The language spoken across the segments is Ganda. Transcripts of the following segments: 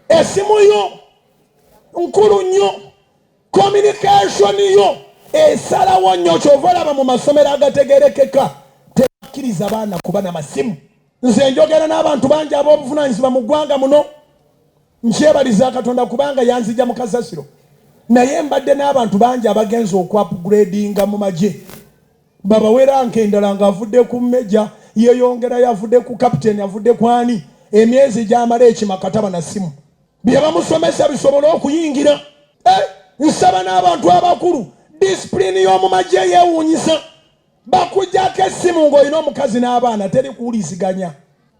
esimu yo nkulu nnyo communication yo esalawo nnyo kyova olaba mu masomero agategerekeka tebakkiriza baana kuba na masimu nze njogera n'abantu bangi ab'obuvunanyizibwa mu ggwanga muno nkyebaliza katonda kubanga yanzija mu kasasiro naye mbadde n'abantu bangi abagenza okwapguredinga mu magye babawera nka endala nga avudde ku meja yeyongerayo avudde ku kapiteni avudde ku ani emyezi gyamala ekimakataba na simu byebamusomesa bisobole okuyingira eh, nsaba n'abantu abakulu disipulini y'omu magye yewuunyisa bakujako essimu ng'olina omukazi n'abaana teri kuwuliziganya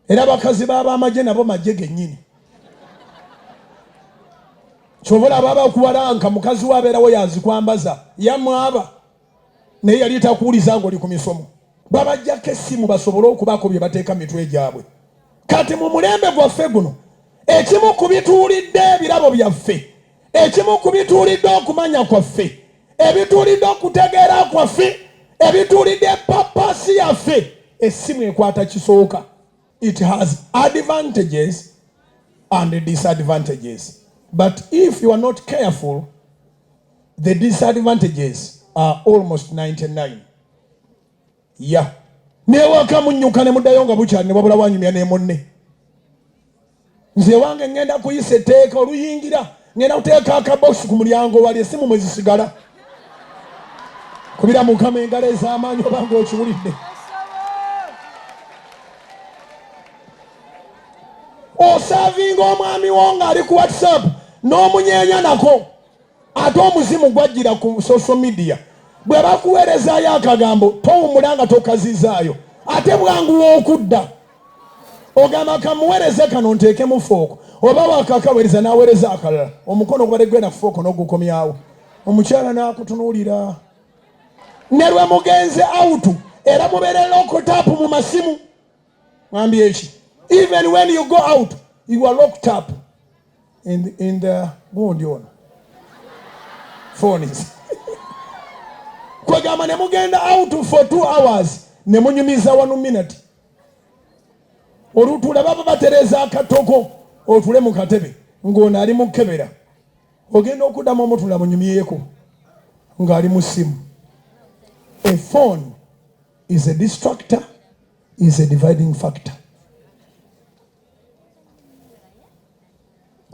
era bakazi b'abamagye nabo magye gennyini kyova olaba abakuwalanka mukazi we abeerawo yazikwambaza yamwaba naye yali takuwuliza ng'oli ku misomo babajjako essimu basobole okubaako bye bateeka mu mitwe gyabwe kati mu mulembe gwaffe guno ekimu ku bituulidde ebirabo byaffe ekimu ku bituulidde okumanya kwaffe ebituulidde okutegeera kwaffe ebituulidde papasi yaffe essimu ekwata kisooka It has advantages and disadvantages. But if you are not careful, the disadvantages are almost 99. Yeah. Newaka munyuka ne mudayo nga bukyali ne wabula wanyumya ne munne. nze wange ngenda kuyisa etteeka oluyingira ngenda kuteeka akabokisi ku mulyango wali esimu mwe zisigala kubira mukama engalo ez'amaanyi oba ng'okiwulidde osavinga omwami wo ng'ali ku whatsapp n'omunyeenya nako ate omuzimu gwajjira ku social media bwe bakuweerezaayo akagambo towumula nga tokazizaayo ate bwanguwa okudda ogamba kamuweereze kano nteekemu fooko oba wakakaweereza n'aweereza akalala omukono ogubadde gwenda ku fooko n'ogukomyawo omukyala n'akutunuulira ne lwe mugenze awutu era mubeere lokotap mu masimu mwambi eki even when you go out you are locked up in, in the gundi ono phones kwegamba ne mugenda out for two hours ne munyumiza wanu minute olutula baba batereza akatoko otule mu katebe ng'ono ali mukebera ogenda okuddamu omutula munyumyeko ng'ali mu ssimu a phone is a distractor is a dividing factor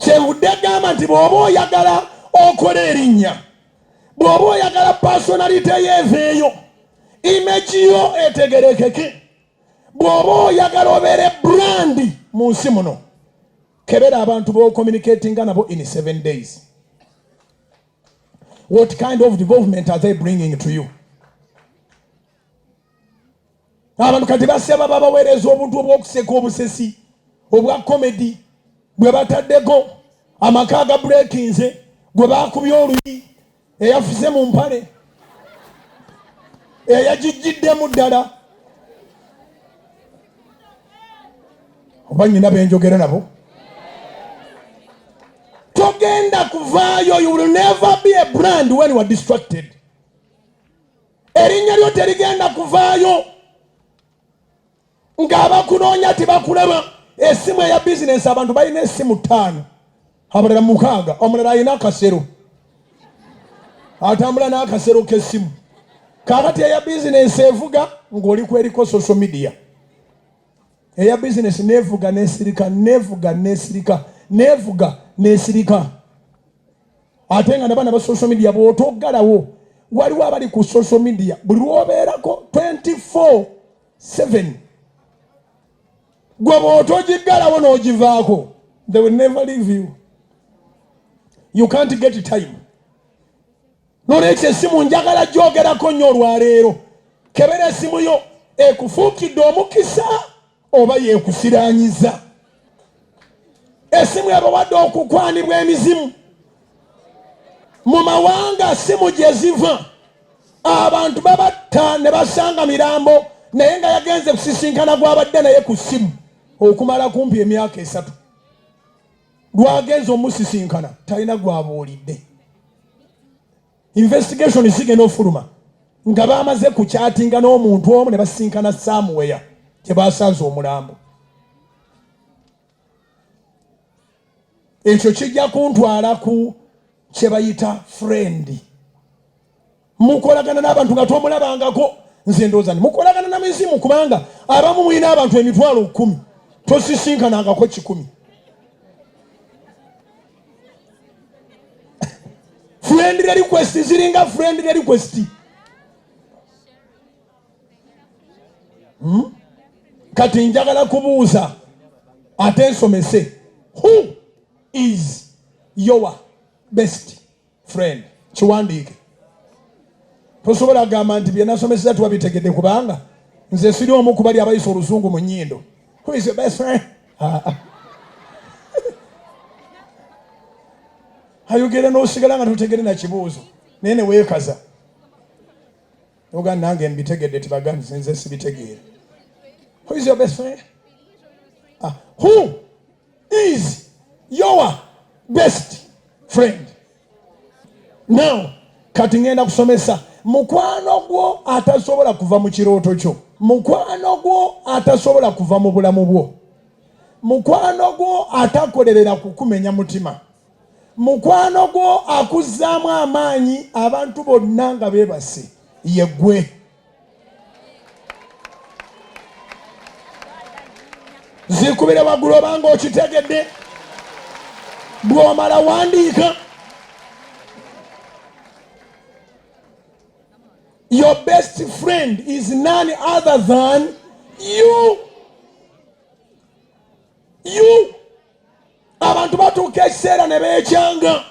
kyenvudde gamba nti bw'oba oyagala okola erinnya bw'oba oyagala pasonalite yo eveeyo imagi yo etegerekeke bw'oba oyagala obeere brandi mu nsi muno kebera abantu b'ocommunicatinga nabo in seven days what kind of development are they bringing to you Abantu kati basaba babaweereza obuntu obw'okuseka obusesi obwa komedi bwe bataddeko amaka aga burekinze gwe baakubye oluyi eyafuze mu mpale eyagijjiddemu ddala oba nyina benjogera nabo togenda kuvaayo you will never be a brand when you are distracted erinnya lyo terigenda kuvaayo ng'abakunoonya tebakulaba esimu eya bizinensi abantu balina esimu ttaano abalala mukaaga omulala alina akasero atambula n'akasero k'essimu kakati eya bizinensi evuga ng'oli kweriko social media eya bizinensi nevuga nesirika nevuga nesirika nevuga nesirika ate nga nabana ba social media bwotoggalawo waliwo abali ku social media buli lwobeerako 24 7 gwe bwotogiggalawo n'ogivaako they will never leave you you can't get time nolwekyo esimu njagala gyogerako nnyo olwaleero kebera esimu yo ekufuukidde omukisa oba yekufiranyiza esimu ebawadde okukwanibwa emizimu mu mawanga simu gye ziva abantu babatta ne basanga mirambo naye nga yagenze kusisinkana gwabadde naye ku simu okumala kumpi emyaka esatu lwagenze omusisinkana talina gwabuulidde investigation zigenda ofuluma nga bamaze ku kyatinga n'omuntu omu ne basinkana samuweya gye basanze omulambo ekyo kijja kuntwala ku kye bayita frendi mukolagana n'abantu nga tomulabangako nze ndooza ni mukolagana na mizimu kubanga abamu mulina abantu emitwalo kumi tosisinkanangako kikumi friendly request ziringa friendly request hmm? kati njagala kubuuza ate nsomese who is your best friend kiwandiike tosobola kugamba nti byenasomeseza tubabitegedde kubanga nze siri omu kubali abayisa oluzungu mu nyindo ah, ah. ayogera nosigala nga tutegere nakibuuzo naye newekaza oga nange mbitegedde tibaganzi nze sibitegeere who is your best friend ah, who is your best friend now kati ngenda kusomesa mukwano gwo atasobola kuva mu kirooto kyo mukwano gwo atasobola kuva mu bulamu bwo mukwano gwo atakolerera kukumenya mutima mukwano gwo akuzzaamu amaanyi abantu bonna nga beebase yegwe zikubire waggulu obanga okitegedde bw'omala wandiika your best friend is none other than you you abantu batuuka ekiseera ne beekyanga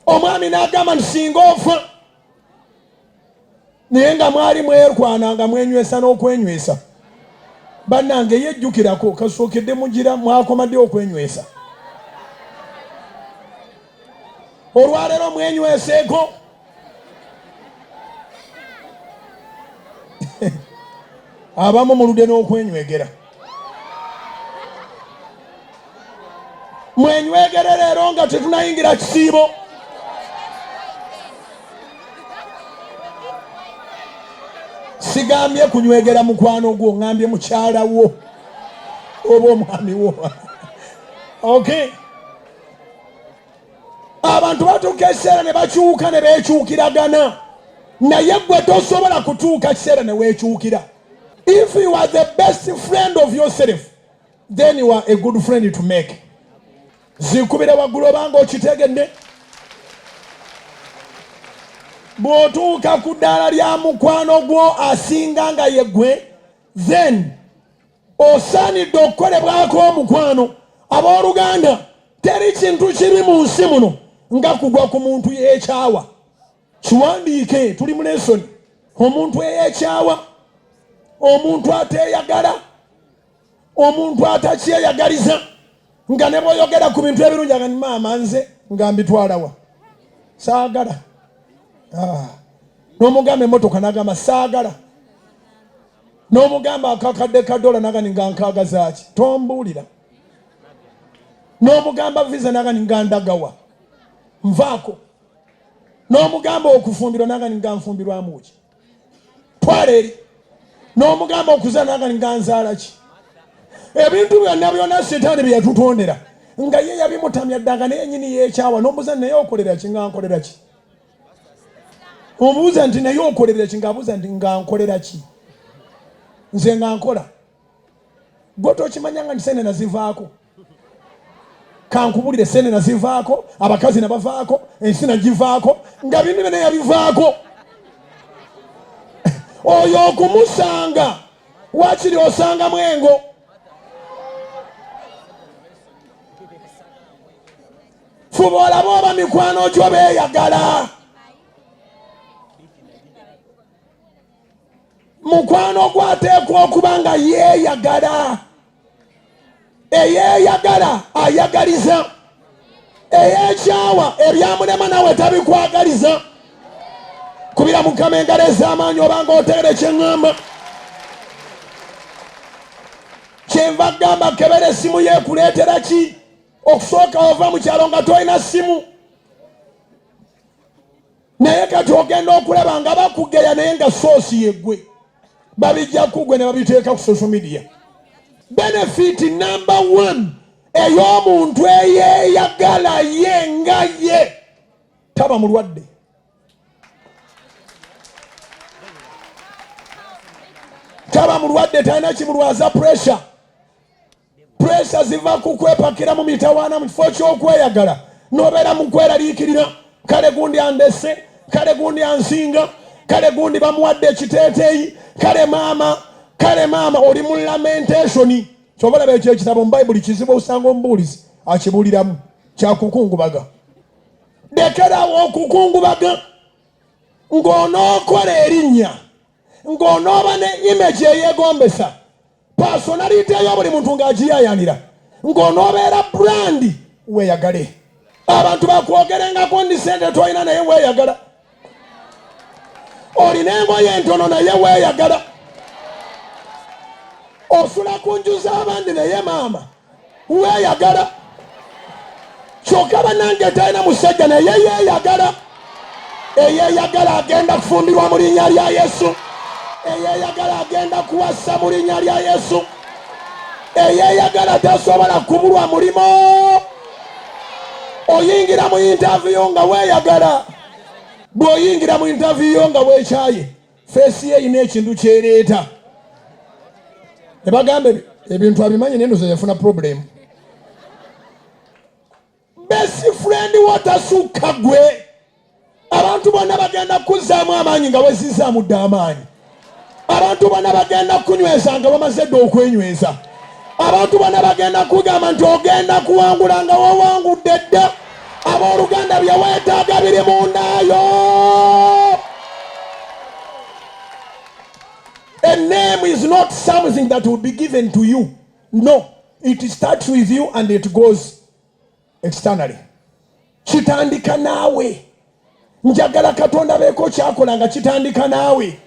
omwami n'agamba nti singa ofa naye nga mwali mwerwana nga mwenywesa n'okwenywesa bannange yejjukirako kasookedde mugira mwakomadde okwenywesa olwaleero mwenyweseeko abamu mulude n'okwenywegera mwenywegere leero nga tetunayingira kisiibo sigambye kunywegera mukwano gwo ngambye mukyala wo oba omwami wo okay abantu batuuka ekiseera ne bakyuka ne beekyukiragana naye gwe tosobola kutuuka kiseera ne weekyukira if you are the best friend of yourself then you are a good friend to make zikubira waggulu obanga okitegedde bw'otuuka ku ddaala lya mukwano gwo asinga nga ye gwe then osaanidde okukolebwako omukwano abooluganda teri kintu kibi mu nsi muno nga kugwa ku muntu yeekyawa kiwandiike tuli mu lesoni omuntu eyeekyawa omuntu ateeyagala omuntu atakyeyagaliza nga ne bwoyogera ku bintu ebirungi agani maama nze nga mbitwalawa saagala ah. n'omugamba emotoka nagamba saagala n'omugamba akakadde ka dola nagani nga nkaaga zaaki tombuulira n'omugamba visa nagani nga ndagawa nvaako n'omugamba okufumbirwa nagani nga nfumbirwamuki twala eri n'omugamba okuzaala nagani nga nzaala ki ebintu byonna byonna sitaani bye yatutondera nga ye yabimutamya ddanga naye nyini yeekyawa n'omuza naye okolera ki nga nkolera ki obuuza nti naye okolera ki ngaabuuza nti nga nkolera ki nze nga nkola gwe tokimanyanga nti sente nazivaako kankubulire sente nazivaako abakazi nabavaako ensi nagivaako nga bintu byona yabivaako oyo okumusanga wakiri osangamu engo fuba olaba oba mikwano gyo beeyagala mukwano gwo ateekwa okuba nga yeeyagala eyeeyagala ayagaliza eyekyawa ebyamulema nawe tabikwagaliza kubira mukama engalo ez'amaanyi obanga oteere kyeŋŋamba kyenva gamba kebera essimu yeekuleetera ki okusooka wava mu kyalo nga tolina simu naye kati ogenda okulaba nga bakugeya naye nga soosi yegwe babijja kugwe ne babiteeka ku social media benefit number one ey'omuntu eyeyagala ye nga ye taba mulwadde taba mulwadde talina kimulwaza pressure Puleesa ziva ku kwepakira mu mitawaana mu kifo ky'okweyagala n'obeera mu kweraliikirira. Kale gundi andese, kale gundi ansinga, kale gundi bamuwadde ekiteeteeyi, kale maama, kale maama oli mu lamentationi. Kyova olaba ekyo ekitabo mu Bayibuli kizibu osanga omubuulizi akibuuliramu kyakukungubaga. Lekerawo okukungubaga ng'onookola erinnya, ng'onooba ne image eyegombesa. pasonalite yo buli muntu ng'agiyayanira ng'onoobeera brandi weeyagale abantu bakwogerengako ndi sente tolina naye weeyagala olina engoye entono naye weeyagala osula ku nju z'abandi naye maama weyagala kyoka banange talina musajja naye yeyagala eyeyagala agenda kufumbirwa mu linnya lya yesu eyeyagala agenda kuwasa mu linnya lya yesu eyeyagala tasobola kubulwa mulimu oyingira mu intaviyo nga weyagala bw'oyingira mu intaviyo nga wekyaye feesi ye erina ekintu kyereeta ne bagamba ebintu abimanyi naye noza yafuna problemu best friend wotasukka gwe abantu bonna bagenda kukuzzaamu amaanyi nga wezizzaamu dda amaanyi abantu bonna bagenda kukunyweza nga bamaze dda okwenyweza abantu bona bagenda kugamba nti ogenda kuwangula nga wawangudde dda abooluganda bye weetaaga biri mu ndaayo a name is not something that will be given to you no it starts with you and it goes externally kitandika naawe njagala katonda beeko kyakola nga kitandika naawe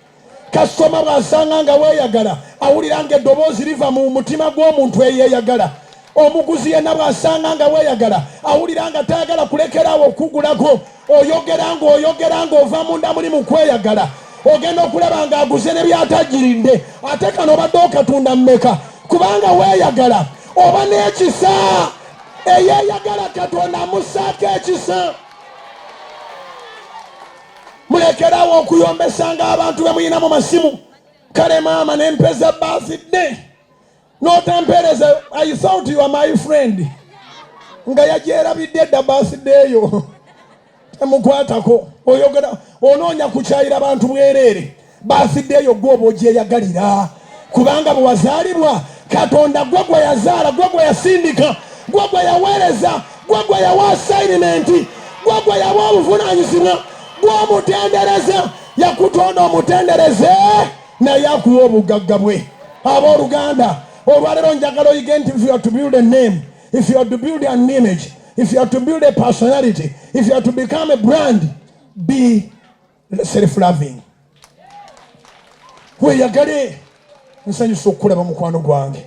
kasitoma bw'asanga nga weeyagala awulira nga eddoboozi liva mu mutima gw'omuntu eyeeyagala omuguzi yenna bw'asanga nga weeyagala awulira nga tayagala kulekera awo okugulako oyogera ng'oyogera ng'ova munda muli mu kweyagala ogenda okulaba ng'aguze ne byatagirinde ate kano obadde okatunda mmeka kubanga weeyagala oba n'ekisa eyeeyagala katonda amussaako ekisa mulekerawo okuyombesanga abantu be mulina mu masimu kale maama n'empeza baazidde n'otampeereza i thought you are my friend nga yagyerabidde edda baasideeyo temukwatako oyogera onoonya kukyayira bantu bwereere baasideeyo gwe oba ogyeyagalira kubanga bwe wazaalibwa katonda gwe gwe yazaala gwe gwe yasindika gwe gwe yaweereza gwe gwe yawa asayinimenti gwe gwe yawa obuvunaanyizibwa gwe omutendereza yakutonda omutendereze naye akuwa obugagga bwe abooluganda olwalero njagala oyige nti if you are to build a name if you are to build an image if you are to build a personality if you are to become a brand be self loving weyagale nsanyusa okukulaba mukwano gwange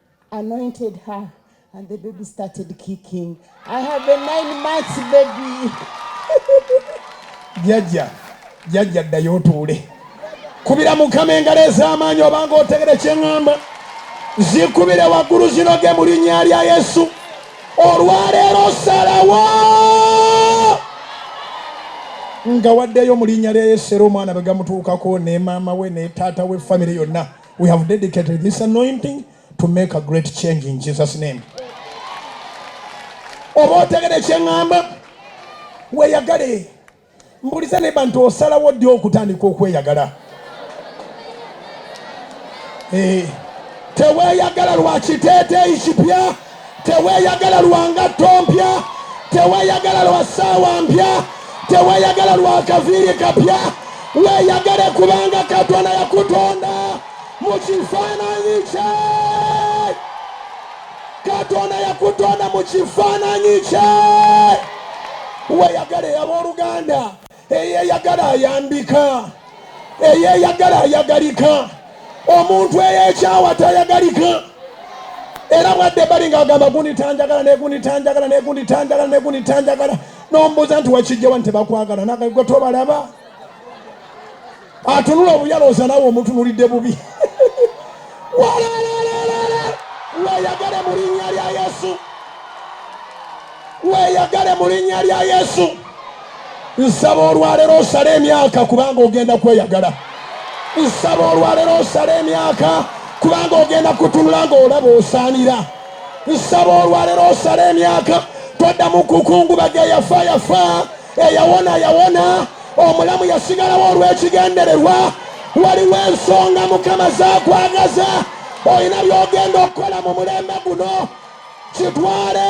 anointed her and the baby started kicking i have a nine months baby jajja jajja ddayo otuule kubira mukama engalo ez'amaanyi obanga otegere kyeŋŋamba zikubire waggulu zinoge mu linnya lya yesu olwaleero salawo nga waddeyo mu linnya lya yesu era omwana bwe gamutuukako ne maama we ne taata we famire yonna We have dedicated this anointing to make a great change in Jesus name. Oba otegere kyeŋŋamba weeyagale mbuliza ne bantu osalawo ddi okutandika okweyagala eh, teweeyagala lwa kiteeteeyi kipya Teweyagala lwa ngatto mpya, teweyagala lwa ssaawa mpya, teweyagala lwa kaviiri kapya. Weeyagale kubanga Katonda yakutonda mu kifaananyi kye. Katonda yakutonda mu kifaananyi kye. Weeyagale abooluganda, eyeyagala ayambika eyeyagala ayagalika omuntu eyekyawa tayagalika era bwadde bali nga agamba gundi tanjagala negundi tanjagala negundi tanjagala negundi tanjagala nombuuza nti wakijjawa nti tebakwagala nagwe tobalaba atunula obuyalooza nawe omutunulidde bubi walalalala weyagale mu linnya lya yesu weyagale mu linnya lya yesu nsaba olwaleero osale emyaka kubanga ogenda kweyagala nsaba olwaleero osale emyaka kubanga ogenda kutunula ng'olaba osaanira nsaba olwaleero osale emyaka toddamu kukungubaga yafa yafa eyawona yawona omulamu yasigalawo olw'ekigendererwa waliwo ensonga mukama zakwagaza olina byogenda okukola mu mulembe guno kitwale